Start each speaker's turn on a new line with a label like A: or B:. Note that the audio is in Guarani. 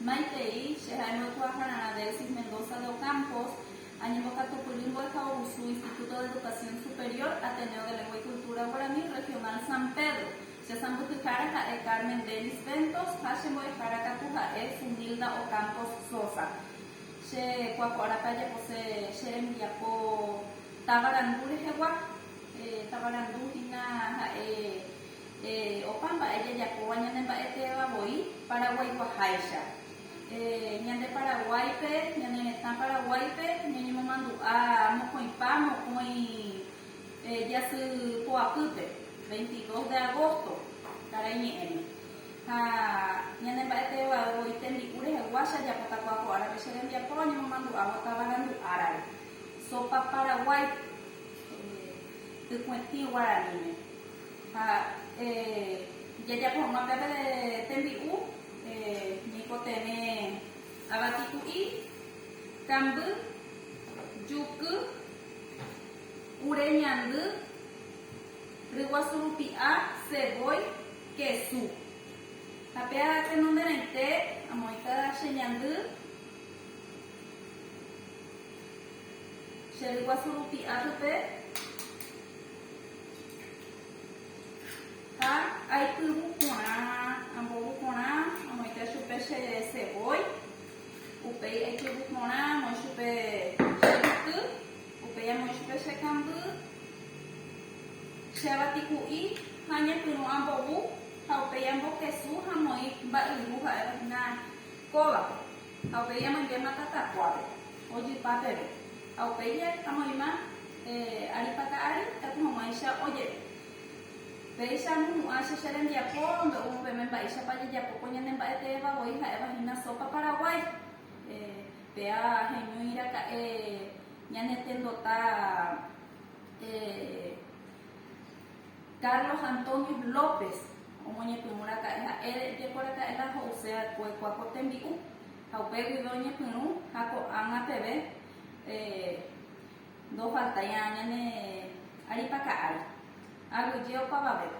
A: Maitei, che ha'e mbo'ekuaahára Radelsis Mendoza de Ocampos, añembokatupyry mbo'ehaovusu Instituto de Educación Superior, Ateneo de Lengua y Cultura Guaraní Regional San Pedro. Che sãmbyhyhára ha'e Carmen Dennis Ventos ha che mbo'ehára katu ha'e Zunilda Ocampos Sosa. Che kuakua'arapa ajapose che rembiapo tavarandu rehegua. Tavarandu hína ha'e Opa mba'e jajapóva ñane mba'etéva voi Paraguaiguaháicha. Ñande Paraguáipe, ñane retã Paraguáipe ñañemomandu'a mokõipa mokõi jasy poapýpe, veintidós de agósto karai ñe'ẽme. Ha ñane mba'etéva voi tembi'u rehegua che ajapotakua ko árape che rembiapo añemomandu'ávo tavarandu árare, sopa paraguái, tykũetĩ guaraníme. Ha ijajapo hag̃ua pe tembi'u ñaikotevẽ avati ku'i, kamby, juky, ure ñandy, ryguasu rupi'a, ceboy, kesu. Ha pe tenonderãite amoĩta che ñandy, che ryguasu rupi'a pype. Ha aipyvu porã, ambovu porã, amoite chupe che cebolla, upéi aipyvu porã, amoi chupe che yky, upéi amoi chupe che kamby, che avatiku'i ha añepyrũ ambovu ha upéi ambokesu ha amoĩ mba'yru ha'éva hína kóvape. Ha upéi amoinvéma tatakuápe, ojepa peve. Ha upéi amoĩma aripaka ári, taku hag̃uáicha ojeve. Péicha amohu'ã che che rembiapo ndo'úvo peme mba'éichapa ajejapo ko ñane mba'e teéva voi ha'éva hína sópa Paraguái. Péa heñói raka'e ñanetendota. Carlos Antonio López omoñepyrũraka'e ha'ére ijekoraka'e la ho'use va'ekue kuáko tembi'u ha upe guive oñepyrũ ha ko'ág̃a peve ndofaltairã ñane aripaka'ári, aguyje opavavépe.